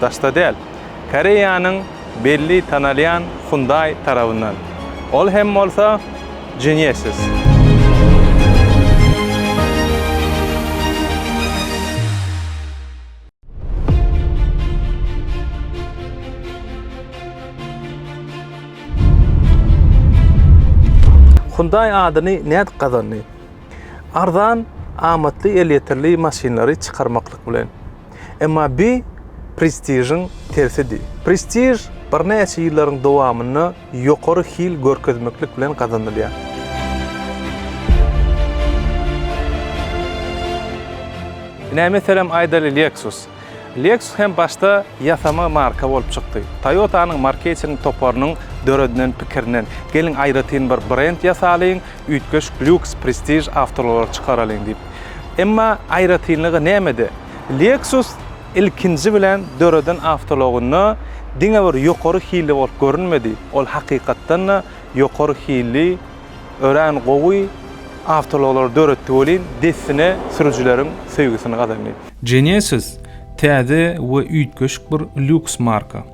Daşda däl, Koreýanyň belli tanalýan Hyundai tarabyndan. Ol hem bolsa Genesis. Hyundai adyny nädip gazandy? Arzan, amatly elýeterli maşynlary çykarmaklyk bilen. Emma bi prestižiň tersidi. Prestiž birnäçe ýyllaryň dowamynda ýokary hil görkezmeklik bilen gazanylýar. Ine, meselem, aýdaly Lexus. Lexus hem başda ýasama marka bolup çykdy. Toyota-nyň marketing toparynyň döredilen pikirinden, geliň aýratyn bir brend ýasalyň, Üýtgeş Lux Prestige awtoulaglar çykaralyň diýip. Emma aýratynlygy nämede? Lexus ilkinji bilen döreden awtoulagynda diňe bir ýokary hilli bolup görünmedi, ol hakykatdan-da ýokary hilli, örän gowy awtoulaglary döretdi welin, dessine sürüjileriň söýgüsini gazandy. Genesis täze we üýtgeşik bir lýuks marka.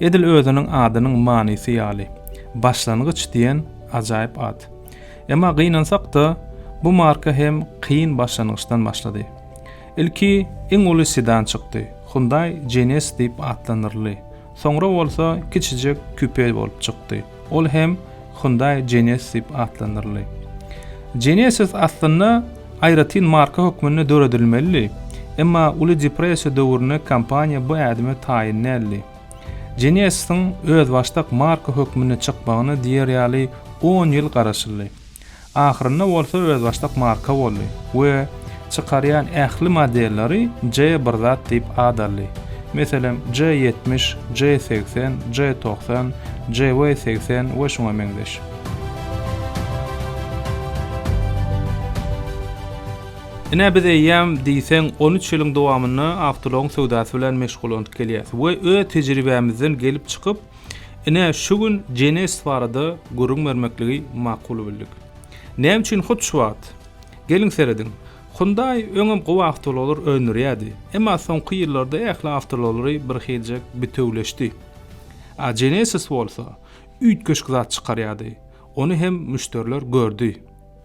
Edil özüniň adynyň manysy ýaly, başlangyç diýen Ajaýyp at. Emma gynansak-da, bu marka hem kyn başlangyçdan başlady. Ilki iň uly sedan çykdy, Hyundai Genesis diýip atlandyryldy. Soňra bolsa kiçijek kupe bolup çykdy, ol hem Hyundai Genesis diýip atlandyryldy. Genesis aslynda aýratyn marka hökmünde döredilmelidi, emma Uly depressiýa döwründe kompaniýa bu ädime taýyn däldi. Genesisyň özbaşdak marka hökmünde çykmagyna diýer ýaly on ýyl garaşyldy. Ahyrynda bolsa özbaşdak marka boldy we çykarýan ähli modelleri J bir zat diýip at aldy. Meselem, J ýetmiş, J segsen, J togsan, JW segsen we şuňa meňzeş. Ine, biz eýýäm diýseň on üç ýylyň dowamynda awtoulag söwdasy bilen meşgullanyp gelýäris we öz tejribämizden gelip çykyp, ine, şu gün Genesis barada gürrüň bermekligi makul bildik. Näme üçin hut şu wagt? Geliň serediň. Hyundai öňem gowy awtoulaglary öndürýärdi, emma soňky ýyllarda ähli awtoulaglary birhiljek bitewleşdi. A Genesis bolsa üýtgeşik zat çykarýardy, ony hem müşderiler gördi.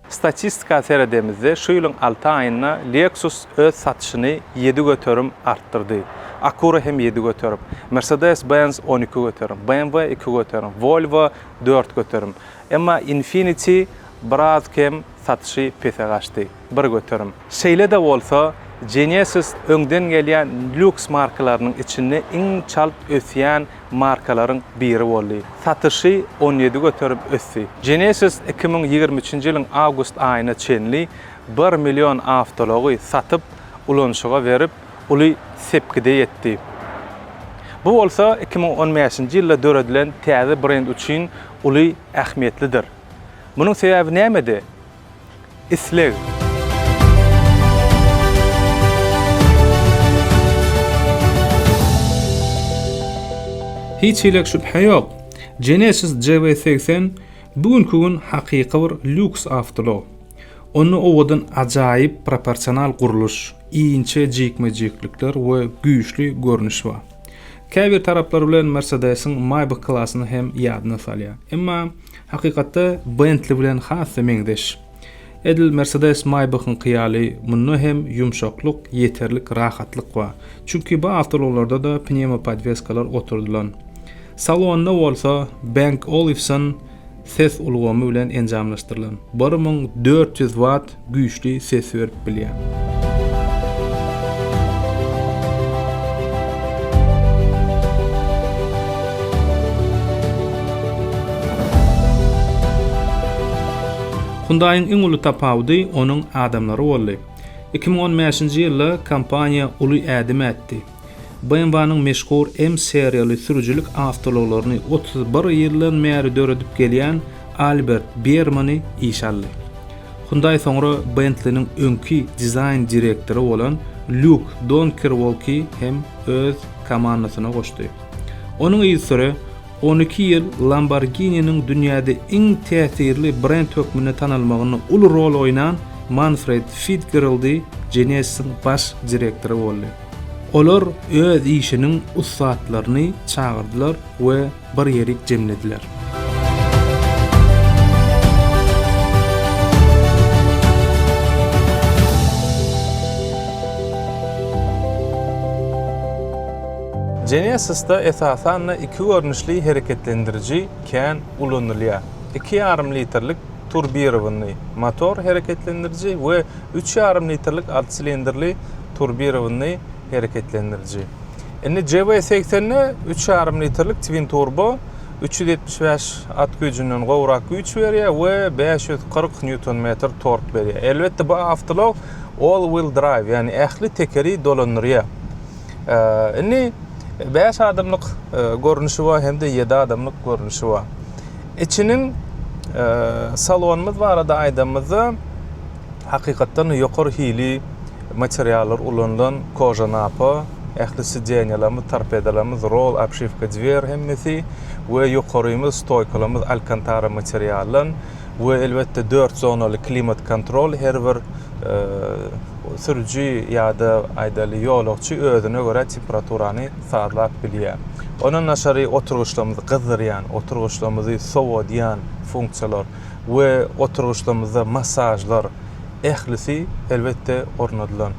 Statistika seredemizde, şu ýylyň alty aýynda Lexus öz satyşyny ýedi göterim artdyrdy, Acura hem ýedi göterim, Mercedes-Benz on iki göterim, BMW iki göterim, Volvo dört göterim. Emma Infiniti biraz kem satyşy pese gaçdy, bir göterim. Şeýle-de bolsa, Genesis öňden gelýän lýuks markalarynyň içinde iň çalt ösýän markalaryň biri boldy. Satyşy on ýedi göterim ösdi. Genesis iki müň ýigrimi üçünji ýylyň awgust aýyna çenli bir million awtoulagy satyp, ulanyşyga berip, uly sepgide ýetdi. Bu bolsa iki müň on bäşinji ýylda döredilen täze brend üçin uly ähmiýetlidir. Munuň sebäbi nämede? isleg. Hiç hili şübhe ýok, Genesis GV80 bu günki gün hakyky bir lýuks awtoulag. Onda owadan ajaýyp proporsional gurluş, inçe jikme-jiklikler we güýçli görnüş bar. Käbir taraplar bilen Mercedes-iň Maybach klassyny hem ýadyna salýar. Emma Hakykatda Bentley bilen has-da meňzeş. Edil Mercedes Maybach-yňky ýaly munda hem ýumşaklyk, ýeterlik rahatlyk bar. Çünki bu awtoulaglarda-da pnewmopodweskalar oturdylan. Salonda bolsa Bang Olufsen ses ulgamy bilen enjamlaşdyrylan, bir müň dört ýüz watt güýçli ses berip bilýär. Hyundai-yň iň uly tapawudy onuň adamlary boldy. Iki müň on bäşinji ýylda kompaniýa uly ädim ätdi. BMW-niň meşhur M seriýaly sürüjilik awtoulaglaryny otuz bir ýyldan bäri döredip gelýän Albert Biermany işe aldy. Hyundai soňra Bentliniň öňki dizaýn direktory bolan Lýuk Donkerwolki hem öz komandasyna goşdy. Onuň yzysüre on iki ýyl Lamborghini-niň dünýäde iň täsirli brend hökmünde tanalmagynda uly rol oýnan Manfred Fitgeraldi Genesis-iň baş direktory boldy. Olar öz işiniň ussatlaryny çagyrdylar we bir ýerik jemlediler. Genesis-de esasan-da iki görnüşli hereketlendiriji kän ulanylýar, iki ýarym litrlik turbirowanyý motor hereketlendiriji we üç ýarym litrlik alty silindrli turbirowanyý hereketlendiriji. Indi JW-segsende üç ýarym litrlik twin-turbo üç ýüz ýetmiş bäş at güýjünden gowrak güýç berýär we bäş ýüz kyrk nýuton-metr tork berýär. Elbetde, bu awtoulag all-wheel drive, ýagny ähli tekeri dolandyrýar. Indi bäş adamlyk görnüşi bar hem-de ýedi adamlyk görnüşi bar. Içiniň salonymyz barada aýdanymyzda hakykatdan ýokary hili materiallar ulanylan koja napa ähli sideniýalarymyz torpedalarymyz rol obşiwka dwer hemmesi we ýokarymyz stoýkalarymyz alkantara materialdan we elbetde dört zonaly klimat kontrol her bir sürüji ýa-da aýdaly ýolagçy özüne görä temperaturany sazlap bilýär. Ondan daşary oturgyçlarymyzy gyzdyrýan, oturgyçlarymyzy sowadýan funksiýalar we oturgyçlarymyzda massažlar ählisi elbetde ornadylan.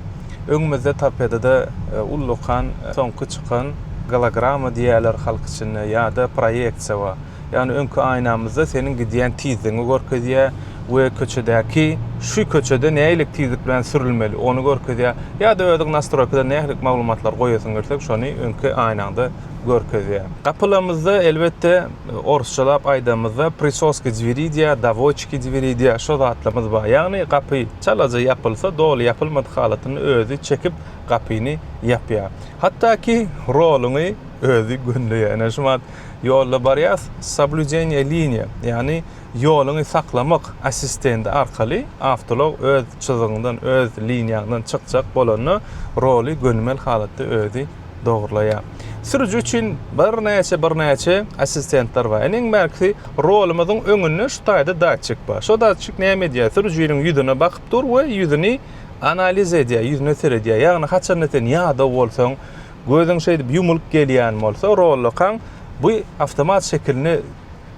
Öňümizde torpedada ullakan soňky çykan gologramma diýerler halk içinde ýa-da proýeksiýa bar. Ýagny öňki aýnamyzda seniň gidýän tizligiňi görkezýär we köçedäki şu köçede nähili tizlik bilen sürülmeli ony görkezýär. Ýa-da özüň nastroýkadan nähili maglumatlary goýasyň gelse şony öňki aýnaňda görkezýär. Gapylarymyzda elbetde orusçalap aýdamyzda prisoski dveri diýýär, dawoçki dveri diýýär şo zatlarymyz bar. Ýagny gapy çalaja ýapylsa doly ýapylmadyk halatynda özi çekip gapyny ýapýar. Hatda ki roluňy özi gönleýär. Ene şu wagt Ýolda barýas, Soblüdeniýe liniýe, ýagny ýoluňy saklamak assistendi arkaly awtoulag öz çyzygyňdan, öz liniýaňdan çykjak bolanda roly gönümel halatda özi dogrulaýar. Sürüji üçin birnäçe birnäçe assistentler bar. Ine iň bärkisi rolumyzyň öňünde şu taýda datçik bar. Şo datçik näme edýär? Sürüjiniň ýüzüne bakyp dur we ýüzüni analiz edýär, ýüzüne seredýär. Ýagny haçanda sen ýadaw bolsaň, Gözüň şeýdip ýumulyp gelýän bolsa, rollokaň bu awtomat şekilini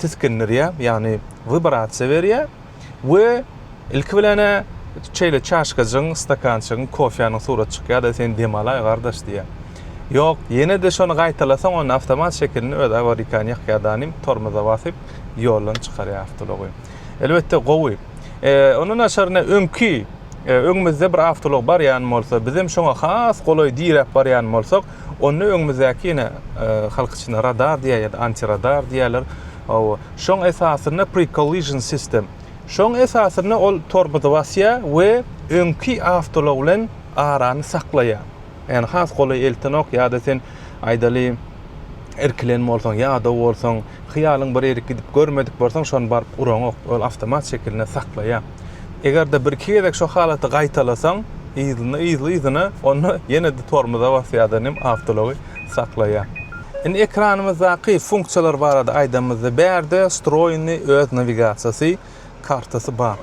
tisgindirýär, ýagny wibrasiýa berýär we ilki bilen-ä şeýle çaşkajygyň, stakançygyň, kofäniň suraty çykýar-da, sen dem alaý, gardaş diýýär. Ýok, ýene-de şony gaýtalasaň, onda awtomat şekilini öz awarikan ýakýardanym tormoza basyp, ýoldan çykarýar awtoulagy. Elbetde gowy. Eee ondan aşaryna öňki e, öňümizde bir awtolog barýan bolsa, biz hem şoňa has golaý diräp barýan bolsak, onda öňümizdäki ýene e, halk içinde radar diýýär ýa-da antiradar diýýärler. Hawa, şoň esasynda pre-collision system. Şoň esasynda ol tormozy basýar we öňki awtolog bilen arany saklaýar. Ýani has golaý eltenok ýada sen aýdaly irkilen bolsaň ýadaw bolsaň hyýalyň bir ýerik gidip görmedik bolsaň şony baryp uraňok ol awtomat şekilinde saklaýar. Egerde bir iki gezek şo halaty gaýtalasaň yzyna yzy yzyna onda ýenede tormoza basýada nem awtology saklaýar. Indi ekranymyzdaky funksiýalar barada aýdanymyzda bärde stroýny öz nawigasiýasy kartasy bar.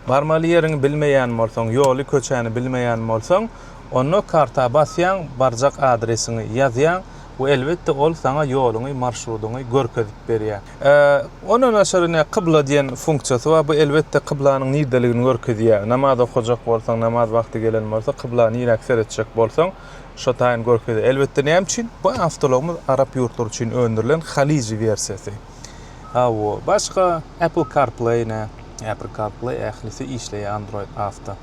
Barmaly ýeriňi bilmeýän bolsaň ýoly köçäni bilmeýän bolsaň Onda karta basýaň, barjak adresiňi ýazýaň we elbetde ol saňa ýoluňy, marşrudyňy görkezip berýär. Ondan daşary ine kybla diýen funksiýasy bar, bu elbetde kyblanyň nirdeligini görkezýär. Namaz okajak bolsaň, namaz wagty gelen bolsa, kybla niräk seretjek bolsaň, şo taýyn görkezýär. Elbetde näme üçin? Bu awtologymyz arap ýurtlary üçin öndürilen Haliji wersiýasy. Hawa, başga Apple CarPlay ne? Apple CarPlay ählisi işleýär Android awto.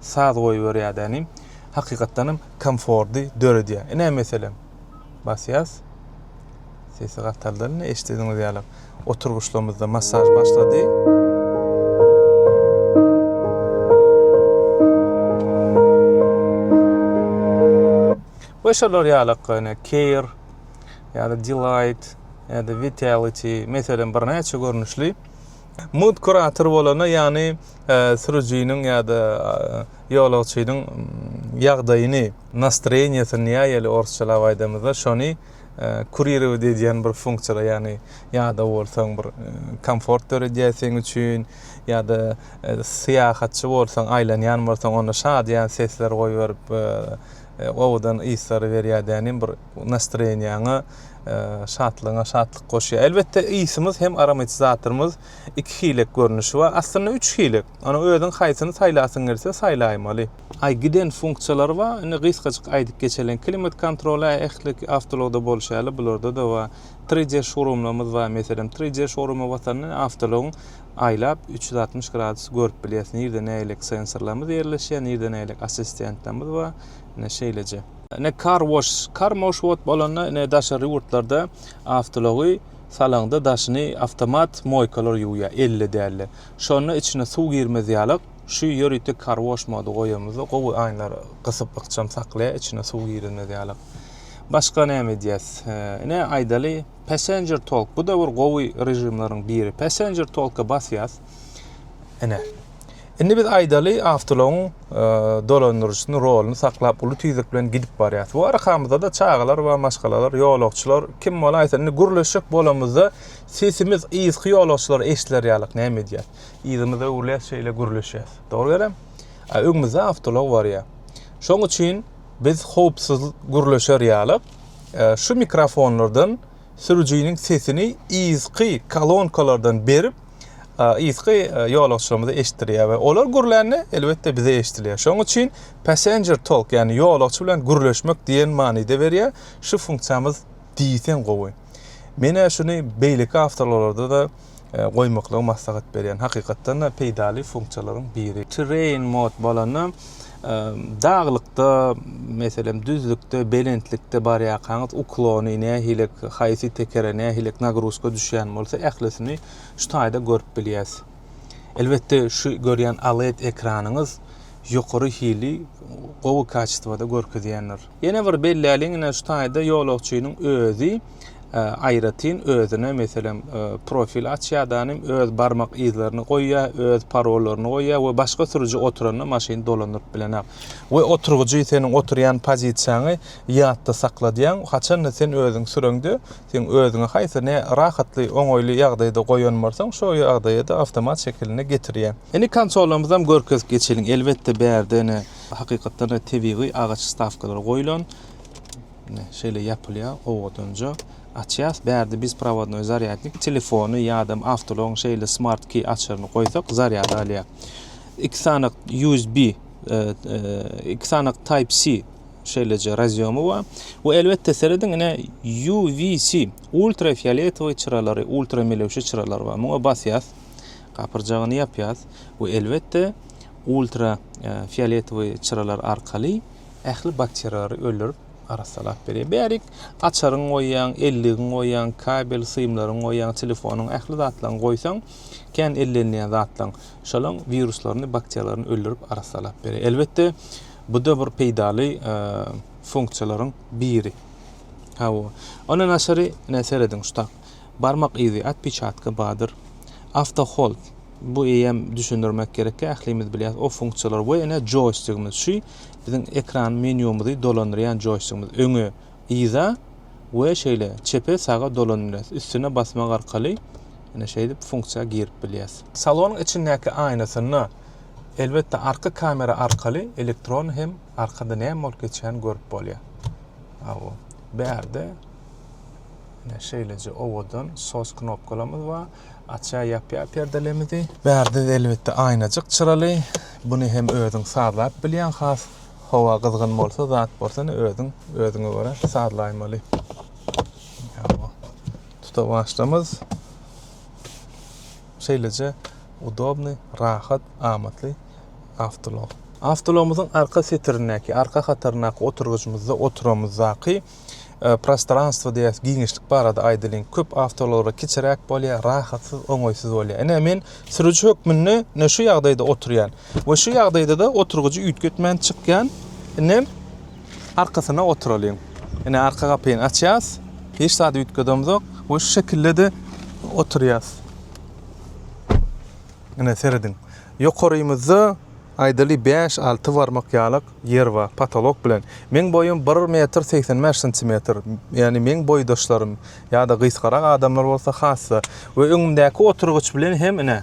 saz goýberýär dä nim hakykatdanam komfordy döredýär ine meselem basýas sesi gataldan ine eşdediňiz ýaly oturgyçlamyzda massaj başlady we şolar ýaly ine keýr ýa-da delight ýa-da vitality meselem birnäçe görnüşli Mugt kurator bolana, ýagny sürüjiniň ýa-da ýolagçynyň ýagdaýyny, nastroýeniýesini näýeli orsçalap aýdamyzda, şony kuririwat edýän bir funksiýalar, ýagny ýadap bolsaň bir komfort döredýär seň üçin, ýa-da syýahatçy bolsaň, aýlanýan bolsaň onda şadyýan sesler goýberip owadan yslary berýär dänim bir. Nastroýeniýaňa, şatlygyňa şatlyk goşýar. Elbetde ysymyz hem aromatizatorymyz iki hilek görnüşi bar. Aslynda üç hilek. Ony özüň haýsyny saýlasyň gelse saýlaýmaly. Aý giden funksiýalary bar. Indi gysgajyk aýdyp geçeliň. Klimat kontroly ähli awtoulagda bolşy ýaly bularda-da bar. 3D şourumlarymyz bar. Meselem 3D şouruma basanda awtoulagyň aýlap üç ýüz altmyş gradus görüp bilýäs. Nirde nähilek sensorlarymyz ýerleşýär, nirde nähilek assistentlerimiz bar. Ine şeýleje. Ine kar wash, kar moş wot bolanda ine daşary ýurtlarda awtoulogy salaňda daşyny awtomat moýkalar ýuwýar, elle dälde. Şonda içine suw girmez ýalak, şu ýörite kar wash mody goýamyzda gowy aýnlar gysyp ykjam saklaýar içine suw girizmez ýalak. Başga näme edýäs? Ine aýdaly passenger talk bu-da bir gowy režimleriň biri. Passenger talka basýas. Ene. Indi biz aýdaly awtologyň e, dolandyryjysynyň roluny saklap uly tizlik bilen gidip barýarys. Bu arkamyzda-da çagalar we maşgalalar, ýolagçylar kim bolaýsa indi gürleşjek bolamyzda sesimiz yzky ýolagçylara eşidiler ýalyk näme edýär? Yzymyzy öwürýäs şeýle gürleşýäs. Dogry gelem? A öňümizde awtolog barýar. Şoň üçin biz howpsuz gürleşer ýalyk e, şu mikrofonlardan sürüjiniň sesini yzky kolonkalardan berip yzky ýolagçylarymyza eşitdirýär we olar gürlände elbetde bize eşidilýär. Şonuň üçin passenger talk, ýagny ýolagçy bilen gürleşmek diýen manyda berýär. Şu funksiýamyz diýseň gowy. Menä şuny beýleki awtoulaglarda da e, goýmaklygy maslahat berýän. Hakykatdan da peýdaly funksiýalaryň biri. Terrain mod bolanda Daglykda, meselem, düzlükde, belentlikde barýarkaňyz uklony nähili, haýsy tekere nähili nagruzka düşýän bolsa, ählisini şu taýda görüp bilýäs. Elbetde, şu görýän OLED ekranyňyz ýokary hili gowy kaçestwada görkezýändir. Ýene bir belläliň ine şu taýda ýolagçynyň özi aýratyn özüne meselem profil açýar danym öz barmak yzlaryny goýýar, öz parollaryny goýýar we başga sürüji oturanda maşyny dolandyryp bilenok. We oturgyjy seniň oturýan pozisiýaňy ýatda sakladýaň, haçanda sen özüň süreňde seň özüňi haýsy ne rahatly, oňaýly ýagdaýda goýan bolsaň şo ýagdaýa-da awtomat şekilinde getirýär. Indi konsolymyzam görkezip geçeliň. Elbetde bärde ine hakykatdan-da tebigy agaç stawkalary goýlan. Mine, şeýle ýapylýar, owadanja açýas. Bärde biz prowadnoý zarýadnik telefony ýa-da awtolaryň şeýle smart key açaryny goýsak, zarýad alýar. Iki sanak USB, e, e, iki sanak Type-C şeýleje razýomy bar. Bu elbetde serediň ine UVC, ultrafioletowy çyralary, ultramelewşe çyralary bar. Muňa basýas, gapyrjagyny ýapýas we elbetde Ultra fioletowy çyralar arkaly ähli bakteriýalary öldürip arassalap berýär. Bärik açaryňy goýýaň, elligiňi goýýaň, kabel symlaryňy goýýaň, telefonyň ähli zatlaryňy goýsaň, kän ellenilýän zatlaň, şolaň wiruslaryny, bakteriýalaryny öldürip arassalap berýär. Elbetde, bu-da bir peýdaly funksiýalaryň biri. Hawa. Ondan daşary, ine, serediň, şu tak. Barmak yzy, otpeçatka, badyr, awtohold. Bu eýýäm düşündirmek gerekki ählimiz bilýäs o funksiýalar we ene joýstigimiz şu biziň ekran menýumyzy dolandyrýan joýstigimiz öňe yza we şeýle çepe saga dolandyrýas üstüne basmak arkaly ene şeýdip funksiýa girip bilýäs. Salonyň içindäki aýnasynda elbetde arka kamera arkaly elektron hem arkada näme bolup geçýäni görüp bolýar. Aw bärde ene şeýleje owadan sos knopkalarymyz bar. Açýar ýapýar perdelerimizi. Bärde elbetde aýnajyk çyraly. Buny hem özüň sazlap bilýän has howa gyzgyn bolsa zat bolsa ne özüň özüňe görä sazlaýmaly. Tuta başlamyz. Şeýleje udobny, rahat, amatly awtolog. Awtologumyzyň arka setirindäki, arka hataryndaky oturgyjymyzda oturamyzdaky prostranstwo diýýäs, giňişlik barada aýdalyň. Köp awtoulag kiçiräk bolýar, rahatsyz, oňaýsyz bolýar. Ine men sürüji hökmünde ne şu ýagdaýda oturýan. We şu ýagdaýda-da oturgyjy üýtgetmän çykýan. Ine arkasyna oturalyň. Ine arka gapyny açýas. Hiç zat üýtgedemzok we şu şekilde-de oturýas. Ine serediň. Ýokarymyzda, aýdaly, bäş-alty barmak ýalak ýer bar, potolok bilen. Meň boýum bir metr segsen bäş santimetr, ýagny meň boýdaşlarym ýa-da gysgarak adamlar bolsa hassa we öňümdäki oturgyç bilen hem, ine,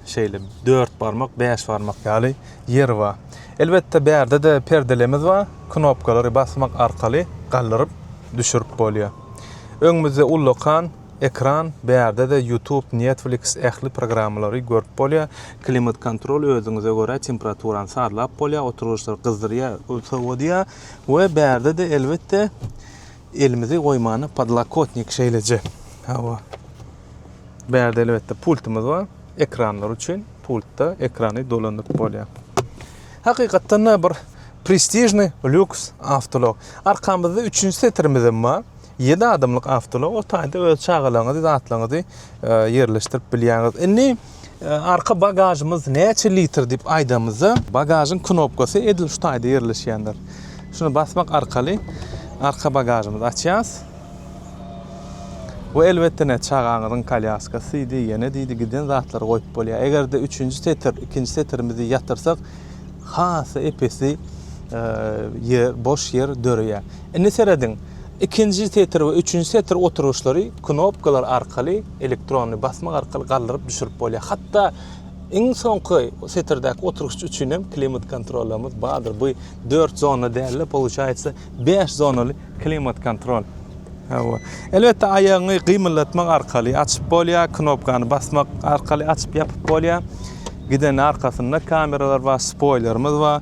şeýle dört barmak, bäş barmak ýaly ýer bar. Elbetde, bärde-de perdelemiz bar, knopkalary basmak arkaly galdyryp, düşürip bolýar. Öňümizde ullakan. Ekran bärde de youtube netflix ähli programmalary görüp bolýa klimat kontrol özüňize görä temperaturany sazlap bolýa oturgyçlary gyzdyrýa sowadýa we bärde de elbetde elimizi goýmany podlakotnik şeýleje hawa bärde elbetde pultumyz bar ekranlar üçin pultda ekrany dolandyryp bolýa hakykatdan da bir prestižny lýuks awtolog arkamyzda üçünji setirimiz hem bar Ýedi adamlyk awtoulag o taýda öz çagalaryňyzy, zatlaryňyzy ýerleşdirip bilýäňiz. Indi arka bagažymyz näçe litr diýip aýdamyzda, bagažyň knopkasy edil şu taýda ýerleşýändir. Şuny basmak arkaly arka bagažymyzy açýas. Bu elbetde ne çagaňyzyň kolýaskasydy, ýene diýdi giden zatlary goýup bolýar. Eger-de üçünji setir, ikinji setirimizi ýatyrsak, has epesli ýer, boş ýer döreýär. Indi serediň, ikinji setir we üçünji setir oturgyçlary knopkalar arkaly, elektronly basmak arkaly galdyryp-düşürip bolýar. Hatda iň soňky setirdäki oturgyç üçin hem klimat kontrollerimiz bardyr. Bu dört zona däl-de, получается, bäş zonaly klimat kontrol. Hawa. Elbetde, aýagyňy gymyldatmak arkaly açyp bolýar, knopkany basmak arkaly açyp-ýapyp bolýar. Gidende arkasynda kameralar bar, spoýlerimiz bar.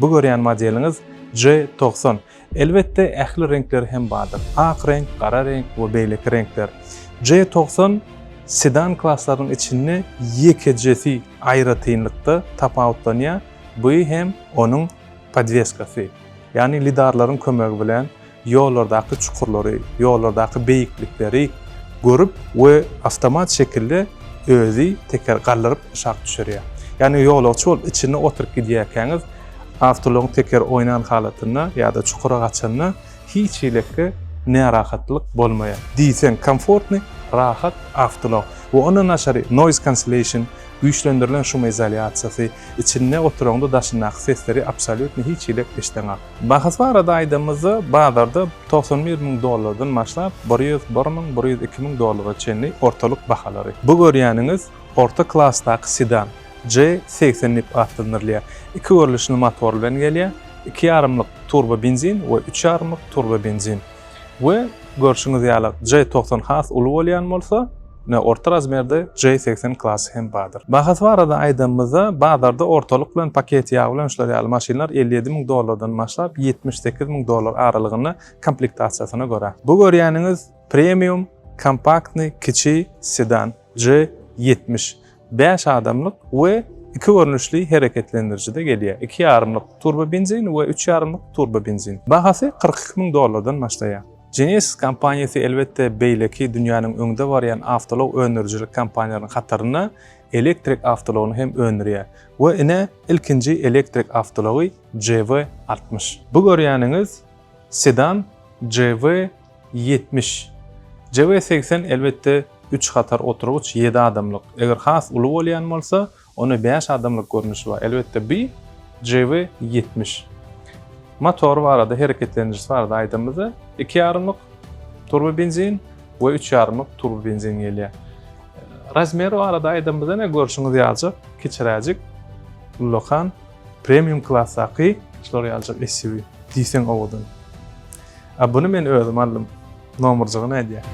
Bu görýän modeliňiz J togsan. Elbetde ähli reňkleri hem bardyr. Ak reňk, gara reňk we beýleki reňkler. J togsan sedan klaslarynyň içinde ýekejesi aýratynlykda tapawutlanýar, bu hem onuň podweskasy. Ýagny lidarlaryň kömegi bilen ýollardaky çukurlary, ýollardaky beýiklikleri görüp we awtomat şekilde özi teker galdyryp aşak düşürýär. Ýagny ýolagçy bolup içinde oturyp gidýärkäňiz awtoulagyň tekeri oýnan halatynda ýa-da çukura gaçanda hiç hilikli närahatlyk bolmaýar. Diýseň komfortnyý, rahat awtoulag we ondan daşary noise cancellation, güýçlendirilen şumizolýasiýasy, içinde oturaňda daşyndaky sesleri absolýutno hiç hilik eşdeňok. Bahasy barada aýdanymyzda, bazarda togsan bir müň dollardan başlap, bir ýüz bir müň, bir ýüz iki müň dollara çenli ortalyk bahalary. Bu görýäniňiz orta klasdaky sedan, J segsen nip atlandyrylýar. Iki görlüşli motor bilen gelýär, iki ýarymlyk turbobenzin we üç ýarymlyk turbobenzin. we görşüňiz ýaly J togsan has uly bolýan bolsa, ine orta razmerde J segsen klasy hem bardyr. Bahasy barada aýdanymyzda, bazarda ortalyk bilen paketi ýag bilen şular ýaly maşynlar elli ýedi müň dollardan başlap ýetmiş sekiz müň dollar aralygynda komplektasiýasyna görä. Bu görýäniňiz premium, kompaktny, kiçi, sedan. J ýetmiş bäş adamlyk we iki görnüşli hereketlendiriji-de gelýär, iki ýarymlyk turbobenzin we üç ýarymlyk turbobenzin. Bahasy kyrk iki müň dollardan başlaýar. Genesis kompaniýasy elbetde beýleki dünýäniň öňde barýan awtoulag öndürijilik kompaniýalarynyň hatarynda elektrik awtoulagyny hem öndürýär we ine ilkinji elektrik awtoulagy JV altmyş. Bu görýäniňiz sedan JV ýetmiş. JW segsen elbetde üç hatar oturgyç ýedi adamlyk. Eger has uly bolýan bolsa, onda bäş adamlyk görnüşi bar. Elbetde bi JW ýetmiş. Motory barada, hereketlendiriji barada aýdanymyzda, iki ýarymlyk turbobenzin we üç ýarymlyk turbobenzin gelýär. Razmeri barada aýdanymyzda ine görşüňiz ýaljak, kiçiräjik ullakan. Premium klasdaky şular ýaljak SUV diýseň owadan. A buny men özüm aldym. Nomerjygy nädýär?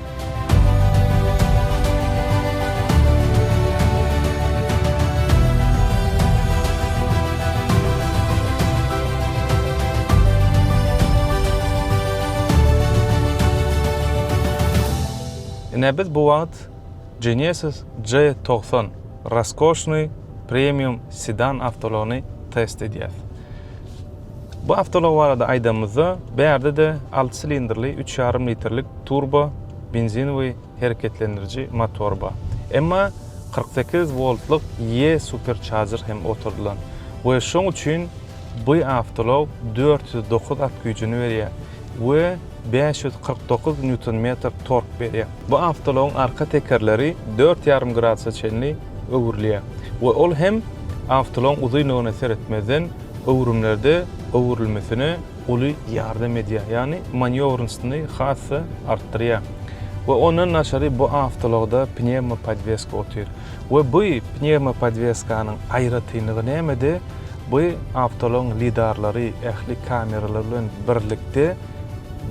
Ine biz bu wagt Genesis J togsan raskoşnyý premium sedan awtoulagyny test edýäs. Bu awtoulag barada aýdanymyzda, bärde-de alty silindrli üç ýarym litrlik turbo benzinowy hereketlendiriji motor bar. Emma kyrk sekiz woltlyk E-supercharger hem oturdylan we şoň üçin, Bu awtoulag dört ýüz dokuz at güýjüni berýär we bäş ýüz kyrk dokuz nýuton-metr tork berýär. Bu awtoulagyň arka tekerleri dört ýarym gradusa çenli öwrülýär we ol hem awtoulagyň uzynlygyna seretmezden öwrümlerde öwrülmesine uly ýardam edýär, ýagny manýowrnstny has-da artdyrýar. We ondan daşary bu awtoulagda pnewmopodweska otyr. We bu pnewmopodweskanyň aýratynlygy nämede? Bu awtoulag lidarlary ähli kameralar bilen birlikde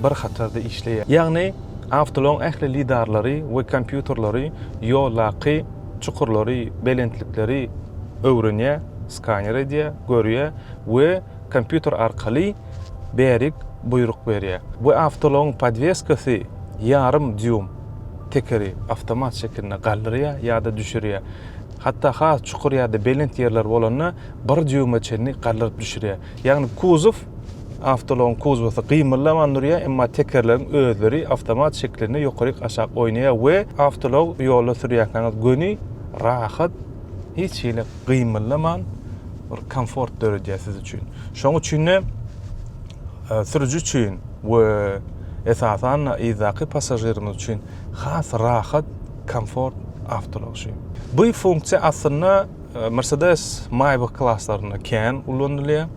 bir hatarda işleýär. Ýagny awtoulagyň ähli lidarlary we kompýuterleri ýoldaky çukurlary, belentlikleri öwrenýär, skaner edýär, görýär we kompýuter arkaly bärik buýruk berýär. Bu awtoulagyň podweskasy ýarym dýum. tekeri awtomat şekilinde galdyrýar ýa-da düşürýär. Hatda has çukur ýa-da belent ýerler bolanda bir dýuma çenli galdyryp düşürýär. Ýagny kuzow, awtoulagyň kuzowasy gymyldaman durýar, emma tekerleriň özleri awtomat şekilinde ýokaryk-aşak oýnaýar we awtoulag ýolda sürýärkäňiz göni, rahat, hiç hili gymyldaman bir komfort döredýär siz üçin. Şonuň üçin-de Sürüji üçin we esasan-da yzdaky passažirimiz üçin has rahat, komfort awtoulag şu. Bu funksiýa aslynda Mercedes Maybach klaslarynda kän ulanylýar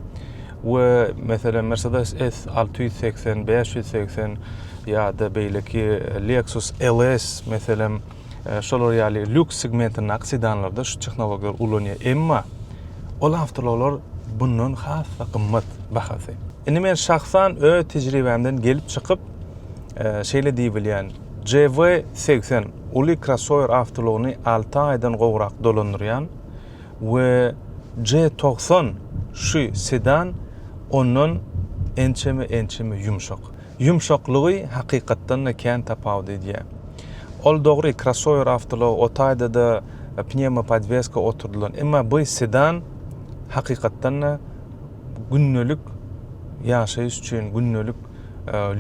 we meselem Mercedes S alty ýüz segsen, bäş ýüz segsen ýa-da beýleki Lexus LS meselem, şolar ýaly lýuks segmentindäki sedanlarda şu tehnologiýalary ulanýar. Emma ol awtoulaglar bundan has-da gymmat bahasy. Indi men şahsan öz tejribämden gelip çykyp, şeýle diýip bilýän, JV-80 uly krossower awtoulagyny alty aýdan gowrak dolandyrýan we J-90 şu sedan ondan ençeme-ençeme ýumşak. Ýumşaklygy hakykatdan-da kän tapawut edýär. Ol dogry, krossower awtoulag, o taýda-da pnewmopodweska oturdylan, emma bu sedan hakykatdan-da gündelik ýaşaýyş üçin, gündelik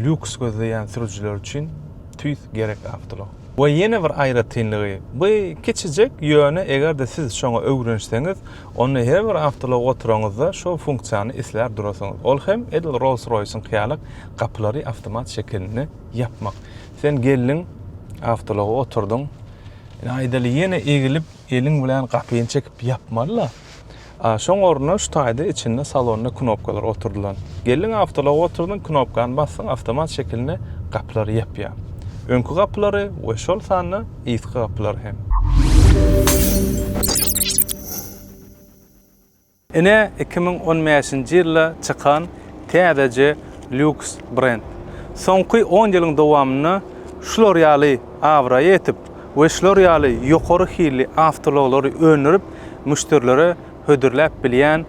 lýuks gözleýän sürüjiler üçin tüýs gerek awtoulag. We ýene bir aýratynlygy, bu kiçijek, ýöne eger-de siz şoňa öwrenişseňiz, Onda her bir awtoulag oturaňyzda şu funksiýany islär durasyňyz. Ol hem edil Rolls-Royce-yň ýalyk gapylary awtomat şekilinde ýapmak. Sen geldiň, awtoulaga oturdyň. Ine, aýdaly, ýene egilip, eliň bilen gapyny çekip ýapmaly-la. A şoň ornuna şu taýda içinde salonda knopkalar oturdylan. Geldiň, awtoulaga oturdyň, knopkany basdyň, awtomat şekilinde gapylary ýapýar. Öňki gapylary we şol sanda yzky gapylar hem. Ine iki müň on bäşinji ýylda çykan täzeje lýuks brend. Soňky on ýylyň dowamynda şular ýaly abraýa ýetip we şular ýaly ýokary hilli awtoulaglary öndürip müşderilere hödürläp bilýän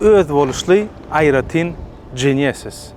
özboluşly aýratyn Genesis.